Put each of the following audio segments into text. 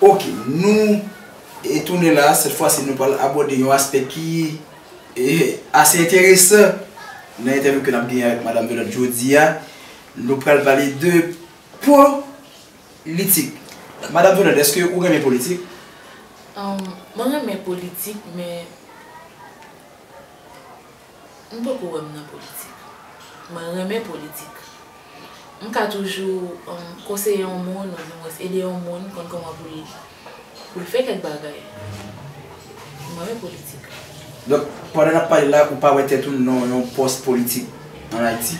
Ok nou e tounen la sèt fwa si nou pral abòde yon aspè ki e ase enteresan nan entèvyou ke nap genyen avèk madam Velòt jodi a nou pral pale de po litik madam Velòt eske ou renmen politik? Mwen renmen politik men. M poko wè m nan politik. Mwen renmen politik. M ka toujou konseye yon moun oudimwens ede yon moun konn kòman pou li pou l fè kèk bagay. M renmen politik. Donk, pandan n ap pale la, ou pa wè tèt ou nan yon pòs politik an Ayiti?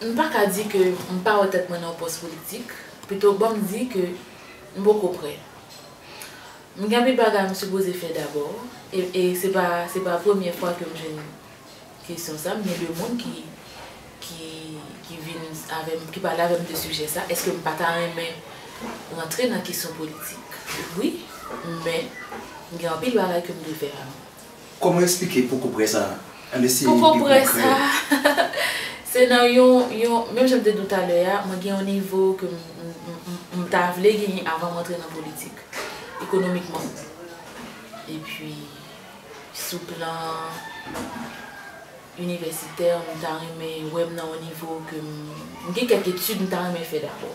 M pa ka di ke m pa wè tèt mwen nan yon pòs politik. Pito, banm di ke m poko prè. M gen anpil bagay m sipoze fè dabò e se pa se pa premye fwa ke m jwenn kesyon sa, m gen 2 moun ki ki ki vin avè m ki pale avè m de sijè sa, èske m pa ta renmen rantre nan kesyon politik? Wi, men m gen anpil bagay ke m dwe fè avan. Kòman esplike poko prè sa a? Ann eseye pi konkrè. Poko prè sa a, se nan yon, yon, menm jan m te di w talè a, mwen gen yon nivo ke m, m, m ta vle genyen avan m antre nan politik. Ekonomikman. Epi, sou plan inivèsitè, m ta renmen wè m nan yon nivo ke m, m gen kèk etid m ta renmen fè dabò.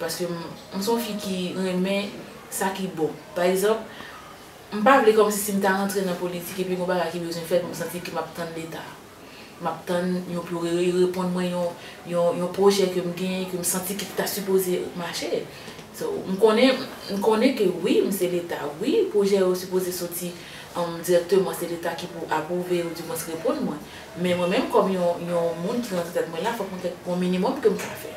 Paske m se yon fi ki renmen sa ki bon. Pa egzanp, m pa vle kòmsi si m ta rantre nan politik epi gen yon bagay ki bezwen fèt m santi ke m ap tann Leta. M ap tann yo pou yo reponn mwen yon pwojè ke m genyen ke m santi ki ta sipoze mache. So, m konnen, m konnen ke wi m se Leta, wi pwojè yo sipoze soti dirèkteman se Leta ki pou apwouve yo dimwens reponn mwen. Men mwen menm kòm yon moun ki rantre tèt mwen la fòk mwen gen yon minimòm ke m ka fè.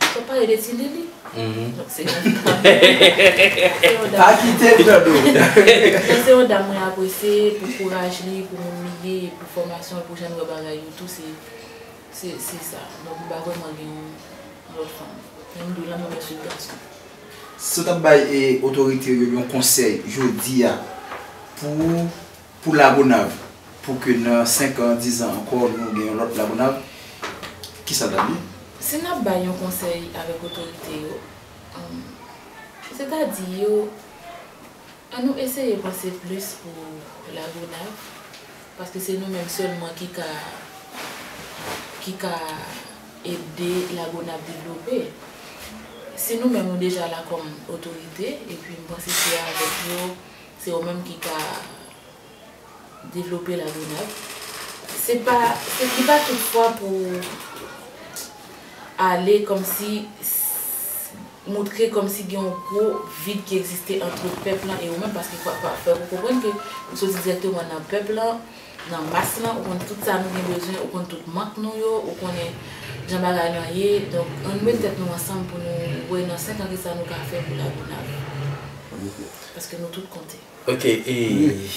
Wap pale de ti lili? Donk se yon dam. Pa kite l nan do. Donk se yon dam mwen apresye pou kouraj li, pou moun li ye, pou fòmasyon l, pou jan l wè bagay yo tou se se sa. Donk m pa vrèman gen yon lòt fanm. Men m di w la mwen mèsi gason. Si w tap bay otorite yo yon konsèy jodi a pou Pou Lagonav, pou ke nan 5 an, 10 an ankò nou gen yon lòt Lagonav, ki sa l t ap ye? Si n ap bay yon konsèy avèk otorite yo, sètadi yo, an nou eseye panse plis pou Lagonav, paske se nou menm sèlman ki ka, ki ka ede Lagonav devlope. Si nou menm nou deja la kòm otorite, epi m panse se avèk yo, Se ou menm ki ka devlope la grenade. Se pa li pa tout fwa pou ou ale kòm si moutre kòm si gen yon gwo vid ki egziste antre pèp lan e ou menm paske fwa pa fwa ou konprann ke ou soti dirèkteman nan pèp lan, nan mas lan ou konn tout sa nou gen bezwen ou konn tout mank nou yo ou konnen jan bagay lan ye donk annou met tèt nou ansanm pou nou wè nan 5 an kisa nou ka fè pou la grenade. Paske nou tout konte. Ok e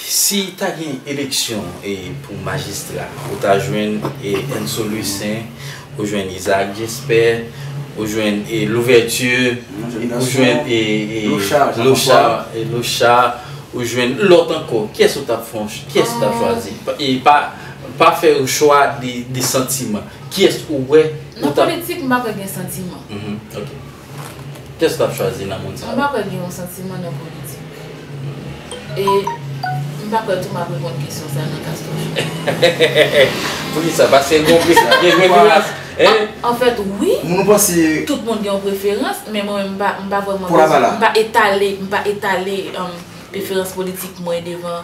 si ta gen eleksyon e pou majistra ou ta jwenn e Enso Louissaint ou jwenn Isaac Jesper ou jwenn e Louverture ou jwenn e e Lochard Lochard ou jwenn lòt ankò kyès ou tap fon kyès ou tap chwazi e pa pa fè yon chwa de de santiman kyès ou wè Nan politik m pa kwè gen santiman ok Kès wap chwazi nan moun sa yo? Mwen pa kwè gen yon santiman nan politik. E m pa kwè tou map reponn kesyon sa nan Castro show. Poukisa? Paske gen yon preferans? Anfèt wi, tout moun gen yon preferans, men mwen menm m pa vwèman bezwen, m pa etale, m pa etale preferans politik mwen devan.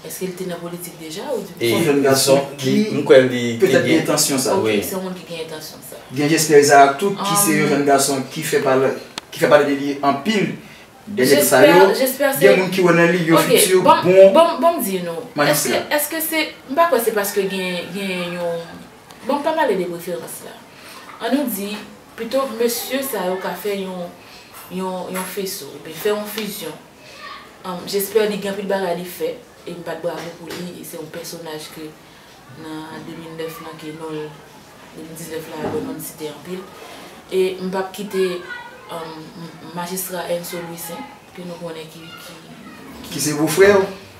Eske li te nan politik deja ou di pou. Son gason ki petèt gen entansyon sa. Ok, se yon moun ki gen entansyon sa. Gen Jesper Isaac tou ki se yon jèn gason ki fè pale de li anpil dènye tan sa yo. Gen moun ki wè nan li yon fiti bon. Bon m di nou, eske se, m pa kwè se paske gen yon, bon m pa pale de preferans la. An nou di, pito mesye sa yo ka fè yon feso, oubyen fè yon fizyon. J'espère li gen anpil bagay li fè e m bat bravo pou li e se yon pèsonaj ke nan 2009 lan ke non l 2019 lan alò non l site anpil e m pap kite Majistra Enso Louissaint ke nou konnen ki. Ki se bofrè w.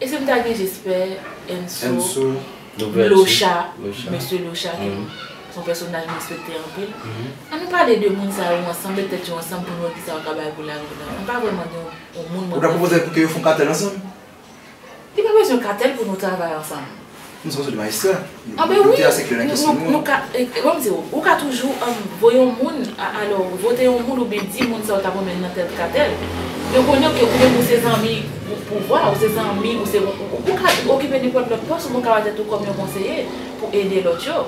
E si m ta gen jespè Enso Locha Mesye Locha ki se yon pèsonaj m respekte anpil An nou pale de moun sa yo ansanm met tèt yo ansanm pou n wè kisa yo ka bay pou lari la M pa vrèman gen yon moun mwen prefere Ou ta pwopoze pou ke yo fon katèl ansanm? Li pa bezwen katèl pou nou travay ansanm Nou sot sou de majistra. Ah ben wi! Nou ka, banm di ou, ou ka toujou voye yon moun, alò vote yon moun oubyen di moun sa ou tap renmen nan tèl katèl. Yo konnen ou ke ou menm ou se zanmi pouvwa, ou se zanmi, ou se, ou ka okipe nenpòt lòt pòs oubyen ou ka wè tèt ou kòm yon konseye pou ede lòt yo.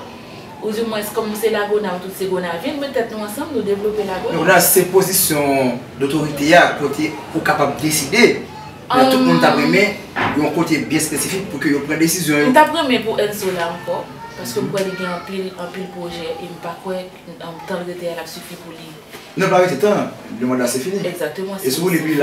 Ou di mwens kòm se lagonav tout se gonavyen, met tèt nou ansanm nou devlope lagonav. Lagonav se pozisyon dotorite a kote ou kapab deside Lè tout moun tap renmen yon kote byen spesifik pou ke yo pran desizyon yo. M tap renmen pou Enzo la ankò, paske m kwè li gen anpil, anpil pwojè e m pa kwè tan l rete a lap sifi pou li. Non l pa rete tan, le manda se fini. Egzakteman, se fini epi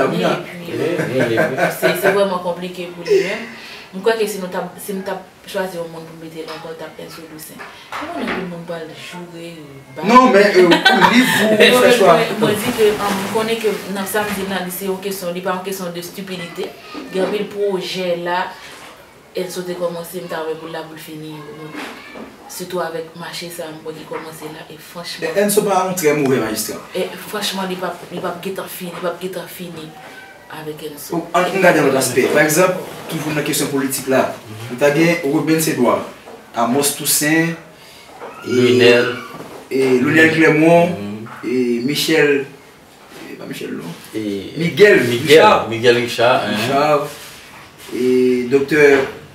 se vrèman konplike pou li menm. M kwè ke si nou tap, si m tap. Pou chwazi yon moun pou mete nan kòl tap enso Doucen. Ou konn anpil moun pral joure baz. Non men ou lib pou ou fè chwa. Mwen di ke m konnen ke nan sa m di la li se yon kesyon li pa yon kesyon de stupidite. Gen anpil pwojè la enso te kòmanse m ta wè pou l la pou l fini yo non. Sitou avèk mache sa m wè ki kòmanse la e franchman. E enso pa yon trè move anjistran. E franchman li pap li pap gentan fini li pap gentan fini. avèk Elzo. Ann gade yon lòt aspè. Pa egzanp, toujou nan kesyon politik la, nou ta gen Rubens Edouard, Amos Toussaint, Lunel Clermont, Michel, e pa Michel non, Miguel Richard, Richard, e Doktè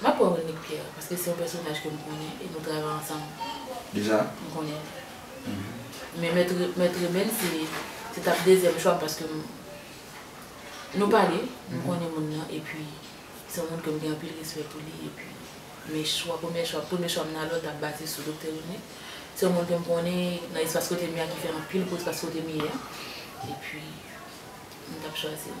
M ap wè Wilnick Pierre paske se yon pèsonaj ke m konnen e nou travay ansanm. Deja? M konnen l. Men Mèt Remen se t ap dezyèm chwa m paske m nou pale, m konnen moun nan epi se yon moun ke m gen anpil respè pou li epi men chwa premye chwa premye chwa m nan lòt ap baze sou Doktè Wilnick. Se yon moun ke m konnen nan espas kote m ye a ki fè anpil pou espas kote m ye a epi m t ap chwazi l.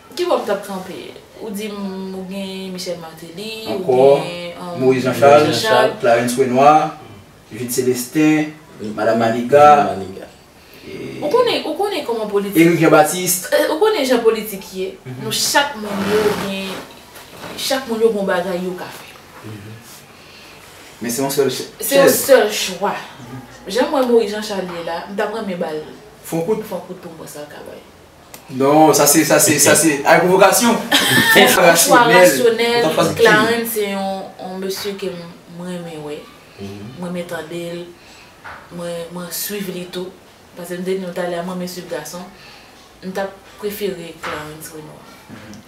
Ki bò m tap kanpe? Ou di m ou gen Michel Martelly, ou gen Moïse Jean Charles, Clarens Renois, Jude Celestin, Madame Maniga, Eric Jean Baptiste. Ou konnen jan politik ye, nou chak moun yo gen, chak moun yo gen yon bagay yo ka fè. Men se yon sèl chèz. Se yon sèl chwa. Jan m wè Moïse Jean Charles ye la, m tap renmen ba l fon kout pou m wè sa l ka bay. Non, sa se, sa se, sa se, ay pwovokasyon! Franchwa Rasyonèl, Clarens se yon mesye ke m renmen wè, m renmen tande l, mwen swiv li tou, pase m te di nou talè a m renmen swiv gason, m ta prefere Clarens Renois.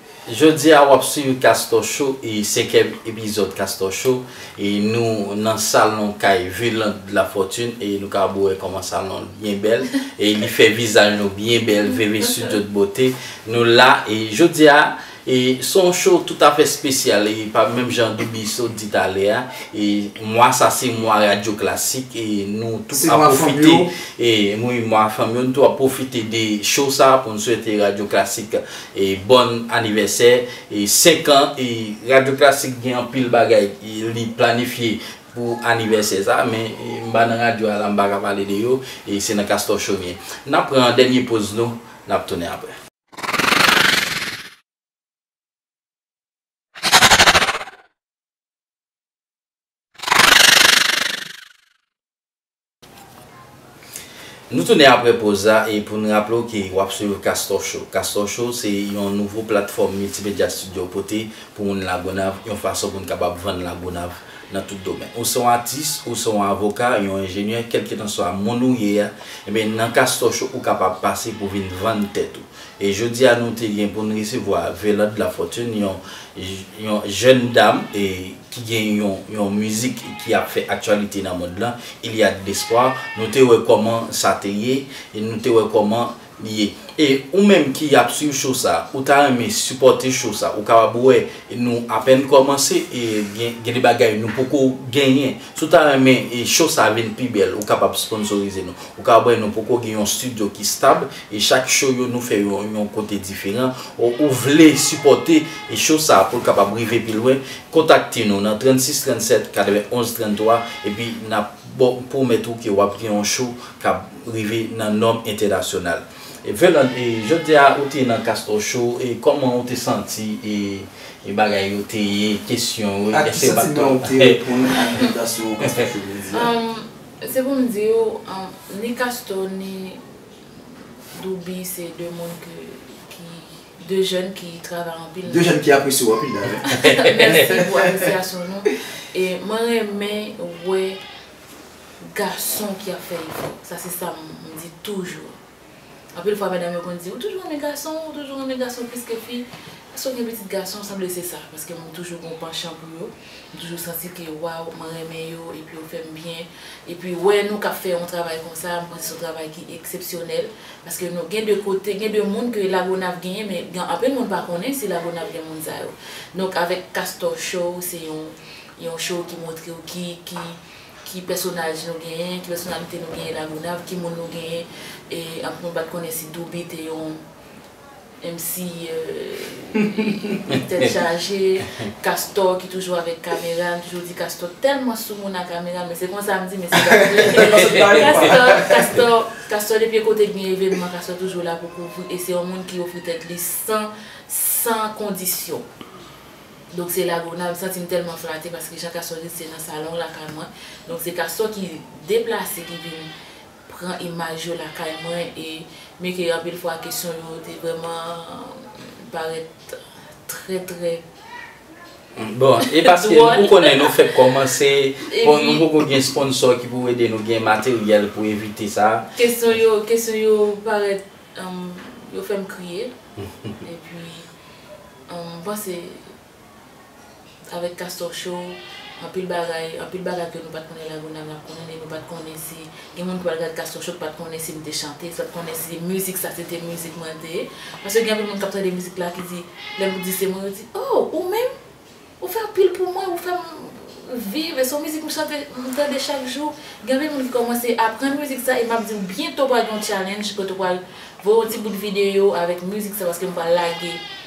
Jodi a wap swiv Castor Show e senkyèm epizòd Castor Show e nou nan salon kay Veland de la Fortune e nou kapab wè kòman salon l byen bèl e li fè vizaj nou byen bèl Veve Studio de Beauté nou la e jodi a e son show tout afè espesyal e pa menm jan Douby sot di talè a e mwa sa se mwa radyo klasik e nou tou ap pwofite e wi mwa fanm yo nou tou ap pwofite de show sa pou n swete radyo klasik Bòn anivèsè 5 an Radyo Klasik gen anpil bagay li planifye pou anivèsè sa men m pa nan radyo a la m pa ka pale de yo se nan Castor Show m ye n ap pran dènye poz nou n ap tounen aprè. Nou tounen apre poz la e pou n raple w ke w ap swiv Kastò Show. Kastò Show se yon nouvo platfòm miltimedya Studio pote pou moun Lagonav yon fason pou n kapab vann Lagonav nan tout domèn. Ou se yon atis, ou se yon avoka, yon enjenyè, kèlkitanswa moun ou ye a, enben nan Kastò Show ou kapab pase pou vin vann tèt ou. E jodi a nou te gen pou n resevwa Velande Lafortune, yon yon jèn dam e ki gen yon yon mizik ki ap fè aktyalite nan mond lan, Il y a de l'espoir, nou te wè kòman sa te ye e nou te wè kòman li ye. E ou menm ki ap swiv show sa, ou ta renmen sipòte show sa, ou kapab wè nou apèn kòmanse e gen gen de bagay nou poko genyen. Si w ta renmen show sa vin pi bèl, ou kapab sponsorize nou. Ou kapab wè nou poko gen yon studio ki stab E chak show yo nou fè yo yon kote diferan o ou vle sipòte e show sa poul kapab rive pi lwen kontakte nou nan 36 37 91 33 epi nap baw pwomèt ou ke wap gen yon show kap rive nan nòm entènasyonal e Veland e jodia ou te nan Castor show e kòman ou te santi e bagay yo te ye kesyon yo ak ki santiman ou te reponn ak envitasyon Castor show jodia. Se poum diw ni Castor ni. Douby se 2 moun ke ki 2 jèn ki travay anpil nan. 2 jèn ki apresye w anpil la wi. Mèsi pou apresyasyon nou. E mwen renmen wè gason ki ap fè efò. Sa se sa m di toujou. Anpil fwa medam yo konn di ou toujou renmen gason, ou toujou renmen gason plis ke fi. Paske w gen pitit gason sanble se sa. Paske moun toujou gen yon panchan pou yo. M toujou santi ke waw mwen renmen yo epi yo fèm byen epi wè nou kap fè yon travay konsa m panse son travay ki eksepsyonèl paske nou gen de kote gen de moun ke lagonav genyen men gen anpil moun pa konnen si lagonav gen moun sa yo donk avèk castor show se yon yon show ki moutrew ki ki ki pèsonaj nou genyen ki pèsonalite nou genyen lagonav ki moun nou genyen e anpil moun pat konnen si douby te yon Menm si tèt chaje, Castor ki toujou avèk kamera, m toujou di Castor tèlman sou moun a kamera, men se konsa m di men se pa vre. Castor, Castor depi kote gen evènman Castor toujou la pou kouvri e se yon moun ki ofri tèt li san, san kondisyon. Donk se la Gonave, m santi m tèlman flate paske jan Castor di l se nan salon lakay mwen, donk se Castor ki deplase ki vin pran imaj yo lakay mwen e men ke anpil fwa kesyon yo te vrèman parèt trè trè. Bon, e paske ou konnen nou fèk kòmanse, bon nou poko gen sponsò ki pou ede nou gen materyèl pou evite sa. Kesyon yo, kesyon yo parèt, yo fèm kriye, epi, m panse. Avèk Castor Show, anpil bagay, anpil bagay ke nou pat konnen La Gonâve nap konnen e nou pat konnen si gen moun ki pral gad Castor Show ki pat konnen si m te chante, ki pat konnen si mizik sa se te mizik mwen te ye. Paske gen anpil moun kap tande mizik la ki di, lè m di se mwen yo di, oh ou menm? Ou fè anpil pou mwen, ou fè m viv e se yon mizik m chante, m tande chak jou. Gen anpil moun ki kòmanse aprann mizik sa e map di w byento pral gen yon challenge kote ou pral voye yon ti bout videyo avèk mizik sa paske m pral lage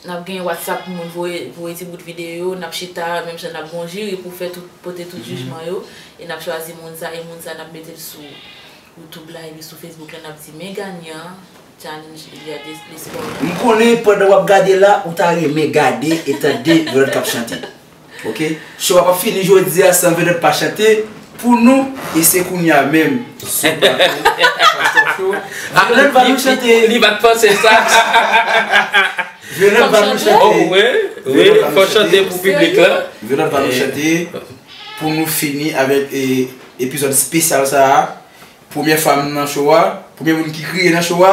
Nap gen WhatsApp pou moun voye voye ti bout videyo, nap chita menm jan nap gon jiri pou fè tout pote tout jijman yo e nap chwazi moun sa e moun sa nap metel sou YouTube la epi sou Facebook la nap di men ganyan challenge Eliade Lescot la. M konnen pandan wap gade la ou ta renmen gade e tande yon lòt kap chante. Ok show a pap fini jodia san vedot pa chante pou nou e se kounya menm sou plato Chanson show vedot va nou chante Li pat panse sa Vedot va nou chante Oh wi wi fòk chante pou piblik la Vedot va nou chante pou nou fini avèk epizòd spesyal sa a premyè fam nan show a premye moun ki kriye nan show a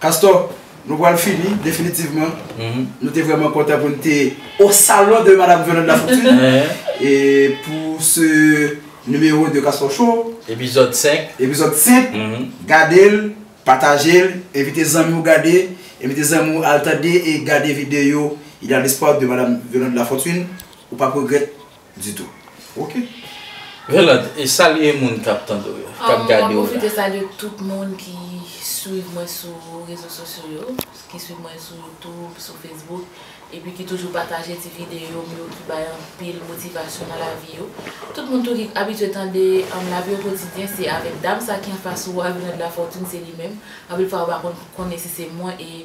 Castor, nou pral fini definitivman. Nou te vrèman kontan pou n te au salon de Madame Violande Lafortune pou ce numéro de Castor Show. Epizòd 5. Epizòd 5. Gade l, pataje l, envite zanmi w gade, envite zanmi w al tande e gade videyo Il y a l'espoir de Madame Violande Lafortune. Ou p ap regrèt. Ditou ok Roland e salye moun kap tande w yo kap gade w la. Mwen pwofite salye tout moun ki swiv mwen sou rezo sosyo yo, ki swiv mwen sou youtube, sou facebook epi ki toujou pataje ti videyo m yo ki bay anpil motivasyon nan lavi yo. Tout moun tou ki abitye tande lavi okotidyen se avèk dam sa ki anfas ou a Rinand Lafortune se li menm, anpil fwa yo pa konn konnen si se mwen e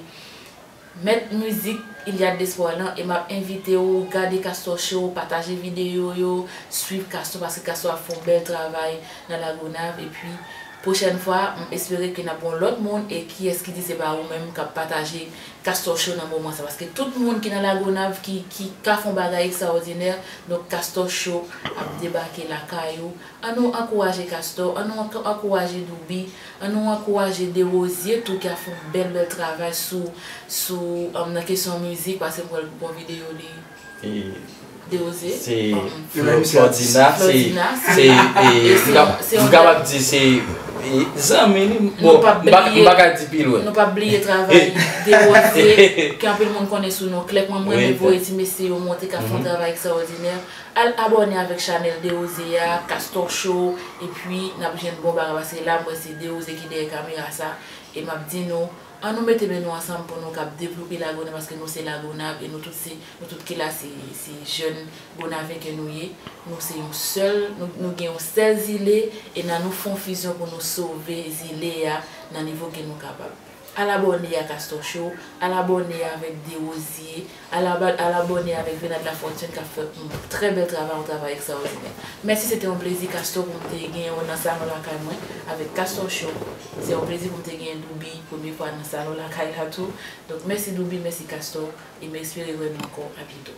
Mèt mizik Iliad D'espoir lan e map envite w gade Castor Show, pataje videyo yo, swiv Castor paske Castor ap fè yon bèl travay nan Lagonav epi pwochèn fwa m espere ke nap gen yon lòt moun e kiyès ki di se pa ou menm kap pataje Castor Show nan moman sa paske tout moun ki nan Lagonav ki ki ka fè yon bagay ekstraòdinè donk Castor Show ap debake lakay ou An nou ankouraje Castor, an nou ankouraje Douby, an nou ankouraje Derosier tou ki ap fè yon bèl bèl travay sou sou nan kesyon mizik paske m wè l pou bon videyo li Derosier se Flordina se m kapab di se zanmi li bon m pa ka di pi lwen. Nou pap bliye travay Derosier ke anpil moun konnen sou non Clèp mwen m renmen voye ti mesye yo monte k ap fè yon travay ekstraòdinè. Al abòne avèk chanèl Derose a, Castor Show, epi nap jwenn bon bagay paske la mwen se Derose ki dèyè kamera sa e map di nou an nou mete men nou ansanm pou nou kab devlope Lagonav paske nou se Lagonav e nou tout se nou tout ki la se jèn Gonave ke nou ye nou se yon sèl nou gen yon sèl zile e nan nou fon fizyon pou nou sove zile a nan nivo ke nou kapab. Al abòne ak Astor Show, al abòne avèk Derosier, al al abòne avèk Venad Lafortune kap fè yon trè bèl travay, yon travay ekstraòdinè. Mèsi se te yon plezi Castor pou m te genyen w nan salon lakay mwen avèk Castor Show. Se yon plezi pou m te genyen Douby premye fwa nan salon lakay la tou. Donk mèsi Douby, mèsi Castor e m espere wè nou ankò a byento.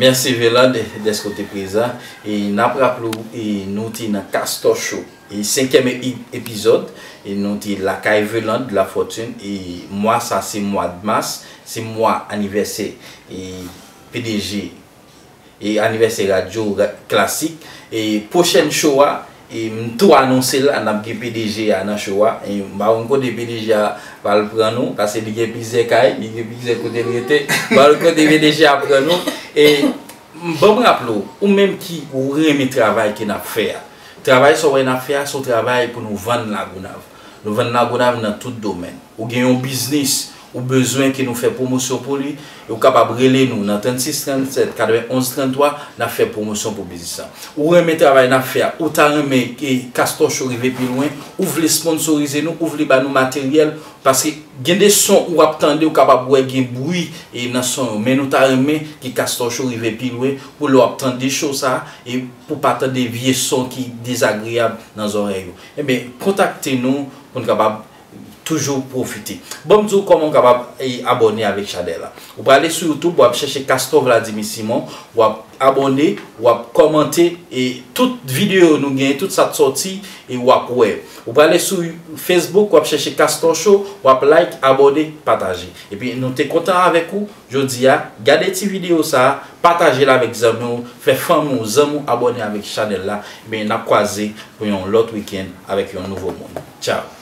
Mèsi Venad dèske w te prezan e nap raple w nou te nan Castor Show. E senkyèm epizòd e nou te lakay Velande la Fortune e mwa sa se mwad mas se mwa anivèsè e pdg e anivèsè radyo klasik e pwochèn show a e m tou anonse la nap gen pdg a nan show a e m pa konn kote pdg a pral pran nou pase li gen plizyè kay li gen plizyè kote l rete m pa konn kote pdg a pran nou e banm raple w ou menm ki ou renmen travay ke nap fè a. Travay sa w wè n ap fè a se yon travay pou nou vann Lagonav. Nou vann Lagonav nan tout domèn. Ou gen yon biznis ou bezwen ke nou fè pwomosyon pou li, e ou kapab rele nou nan 36 37 91 33, n ap fè pwomosyon pou biznis lan. Ou renmen travay n ap fè a, ou ta renmen Castor Show rive pi lwen, ou vle sponsorize nou, ou vle ba nou materyèl, paske gen de son ou ap tande ou kapab wè gen bri nan son yo, men nou ta renmen ke Castor Show rive pi lwen pou lè w ap tande show sa a, e. Pou w pa tande vye son ki dezagreyab nan zòrèy ou. Ebyen kontakte nou pou n kapab toujou pwofite. Banm di w kòman w kapab abòne avèk chanèl la. Ou prale sou youtube wap chèche Castor Vladimir Simon, wap abòne, wap kòmante e tout videyo nou gen, tout sa t sòti e wap wè. Ou prale sou facebook wap chèche Castor Show, wap like, abòne, pataje. Ebyen nou te kontan avèk ou. Jodi a, gade ti video sa, pataje l avèk zanmi w, fè fanmi w, zanmi w abòne avèk chanèl la, ebyen nap kwaze pou yon lòt weekend avèk yon nouvo moun. Ciao!